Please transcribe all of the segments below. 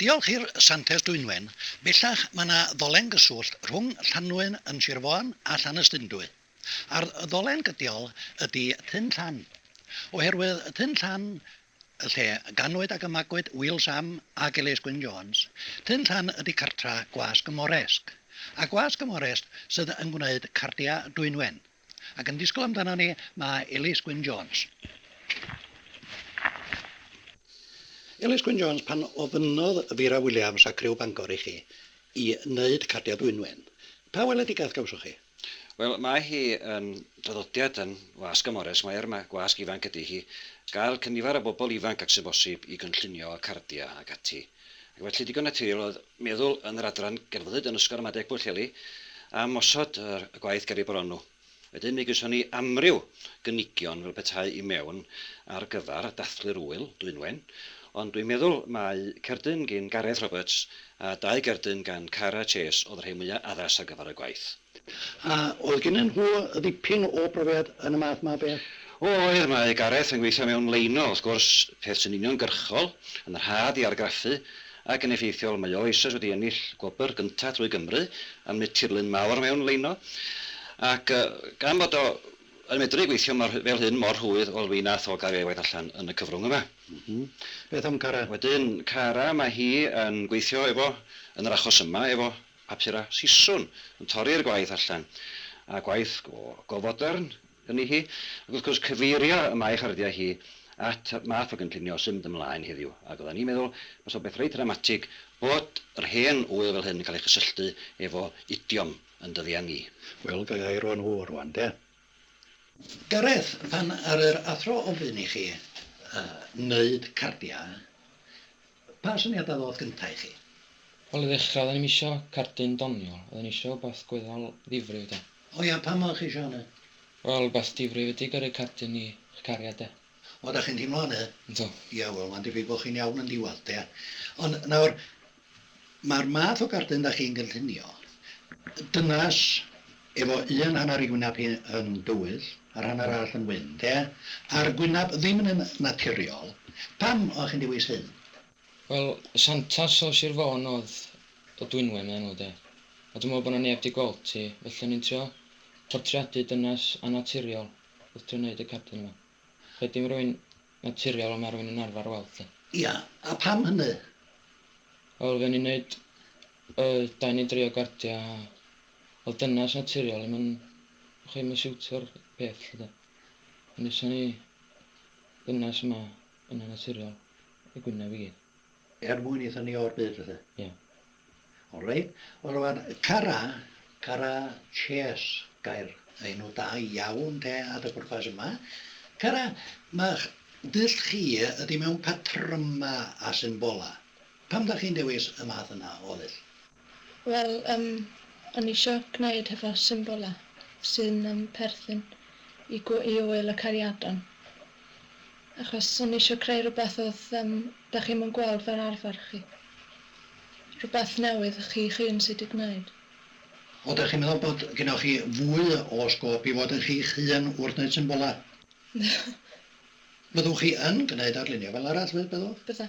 Diolch i'r Santes Dwynwen, bellach mae yna ddolen gyswllt rhwng Llanlwyn yn Sir Fôn a Llanystumdwy. A'r ddolen gydiol ydi Tyn Llan. Oherwydd Tyn Llan, lle ganwyd ac y magwyd Wil Sam ac Elise Gwyn Jones, Tyn Llan ydi cartra Gwasg y Moresg. A Gwasg y Moresg sydd yn gwneud cardiau Dwynwen. Ac yn disgwyl amdanon ni, mae Ellis Gwyn Jones. Ellis Gwyn Jones, pan ofynnodd Vera Williams a criw Bangor i chi i wneud cardiau dwynwen, pa weledigaeth gawsoch chi? Wel, mae hi yn draddodiad yn Wasg y Mores, mae ar y Gwasg ifanc ydy hi, gael cynifer o bobl ifanc ag sy'n bosib i gynllunio y cardiau ac ati. Ac felly, digon naturiol oedd meddwl yn yr adran Gelfyddyd yn Ysgol Ramadeg Pwllheli am osod y gwaith ger ei bron nhw. Wedyn mi gawson ni amryw gynigion fel petai i mewn ar gyfer dathlu'r ŵyl, Dwynwen, ond dwi'n meddwl mai cerdyn gin Gareth Roberts a dau gerdyn gan Cara Chase oedd y rhai mwya' addas ar gyfer y gwaith. A oedd gennyn nhw ddipyn o brofiad yn y math 'ma o beth? O oedd, mae Gareth yn gweithio mewn leino, wrth gwrs, peth sy'n uniongyrchol, yn rhad i argraffu, ac yn effeithiol, mae o eisoes wedi ennill gwobr gyntaf drwy Gymru am wneud tirlun mawr mewn leino, ac gan fod o yn medru gweithio mor fel hyn, mor rhwydd, wel, mi nath o gael ei efaid allan yn y cyfrwng yma. Beth am Cara? Wedyn, Cara, mae hi yn gweithio efo, yn yr achos yma, efo papur a siswrn yn torri'r gwaith allan, a gwaith go fodern yni hi, ac wrth gwrs cyfeirio y mae charddiau hi at y math o gynllunio sy'n mynd ymlaen heddiw, ac oeddan ni'n meddwl base o'n beth reit ddramatig bod yr hen ŵyl fel hyn yn cael ei chysylltu efo idiom yn dyddiau ni. Wel, ga i eiro nhw rwan, de? Gareth, pan ar yr athro ofyn i chi wneud cardiau, Pa syniadau ddoth gynta i chi? Wel i ddechrau oedden ni'm isio cerdyn doniol, oedden ni isio wbath gweddol ddifrif de. O ia, pam oeddech chi isio hynny? Wel wbath difrif ydi gyrru cerdyn i 'ych cariad de. O, 'dach chi'n teimlo hynny? Yndw. Ia, wel mae'n debyg bod chi'n iawn yn diwadd de. Ond nawr, mae'r math o gerdyn 'dach chi'n gynllunio, dynas Efo un hanner i gwynab hi yn dywyll, a'r hanner arall yn wyn, 'de? A'r gwynab ddim yn naturiol. Pam o' chi'n dewis hyn? Wel, Santas o Sir Fôn odd y dwynwen o'i enw, 'de? A dwi me'wl bo' 'na neb 'di gweld hi, felly o'n i'n trio portreadu dynas annaturiol wrth drio neud y cardyn 'ma. Rhaid dim rywun naturiol on' ma' rywun yn arfar weld hi. Ia, a pam hynny? Wel, fuon ni'n neud yy dau ne' dri o gardia' a Wel dynas naturiol, mae'n chwe mae'n siwto'r peth lle da. Ond eisiau ni dynas yma yn y naturiol, y gwynaf i gyd. Er mwyn eitha ni o'r byd felly? Ie. Yeah. All right. Wel rwan, Cara, Cara Chase, gair enw da iawn te at y pwrpas yma. Cara, mae'ch dull chi ydy mewn patrymau a symbolau. Pam da chi'n dewis y math yna o ddull? Wel yym o'n i isio gwneud hefo symbolau sy'n yym perthyn i gw- i ŵyl y cariadon achos o'n i isio creu rhywbeth oedd yym dach chi'm yn gweld fel arfer chi. Rhywbeth newydd chi'ch hun sy' 'di gwneud. Ond dach chi'n meddwl bod gennoch chi fwy o sgôp i fod yn chi'ch hun wrth wneud symbolau? Byddwch chi yn gwneud arlunio fel arall byddwch? Bydda.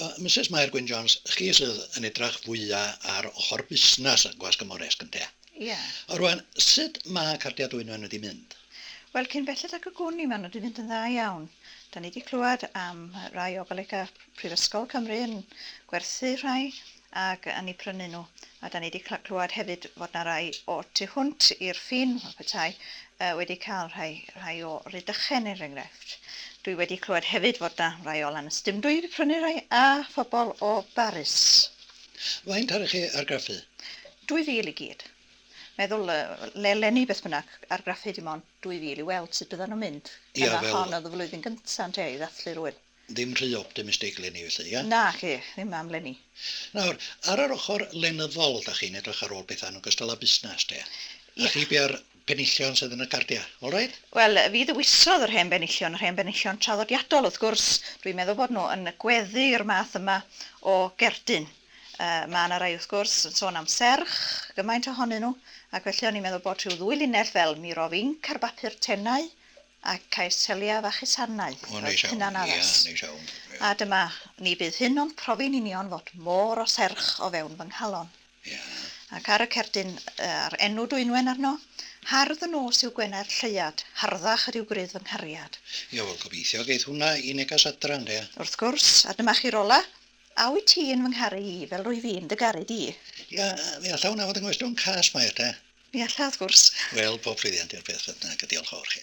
O, Misus Mair Gwyn Jones, chi sydd yn edrach fwya ar ochor busnas y Gwasg Ymmoresg, ynde? Ie. O, rwan, sut ma' cardia Dwynwen wedi mynd? Wel, cyn belled ag y gwn i, ma' nw 'di mynd yn dda iawn. Da ni 'di clwad am rai o golega prifysgol Cymru yn gwerthu rhai, ac yn eu prynu nhw. A dan ni 'di clywed hefyd fod 'na rai o tu hwnt i'r ffin, fel petai, yy wedi cael rhai rhai o Rydychen er enghraifft. Dwi wedi clywed hefyd fod 'na rai o Lanast dim dwi 'di prynu rhai a phobol o Baris. Faint ar chi argraffu? Dwy fil i gyd. Meddwl yy leni beth bynnag, argraffu dim ond dwy fil i weld sut byddan nhw'n mynd. Ia fel... Hon oedd y flwyddyn gynta ynte i ddathlu rhywun. Ddim rhy optimistig 'leni felly, ia? Na, chi ddim am 'leni. Nawr, ar yr ochr lenyddol, 'dach chi'n edrych ar ôl pethau yn ogystal â busnes, de? Ia. A chi biau'r penillion sydd yn y cardiau, all right? Wel, fi ddewisodd yr hen benillion, yr hen benillion traddodiadol, wrth gwrs. Dwi'n meddwl bod nhw yn gweddu'r math yma o gerdyn. Yy, ma' 'na rai, wrth gwrs, yn sôn am serch, gymaint ohonyn nhw, ac felly o'n i'n meddwl bod rhyw ddwy linell fel 'Miro Finc' ar bapur tenau, Ac caiff seliau fach eu sarnau, fel hunanaddas. A dyma, ni fydd hyn ond profi'n union fod môr o serch o fewn fy nghalon. Ac ar y cerdyn a'r enw Dwynwen arno, hardd y nos yw gwenau'r lleuad, harddach ydyw grudd fy nghariad. Ie, wel, gobeithio geith hwnna i neges adra, ynde? Wrth gwrs, a dyma chi Rola, a wyt ti yn fy ngharu i, fel rwyf i'n dy garu di? Ie, mi alla hwnna fod yn ngwestiwn cas, Mair, de. Mi alla, wrth gwrs. Wel, pob llwyddiant i'r peth beth bynnag a diolch fawr chi.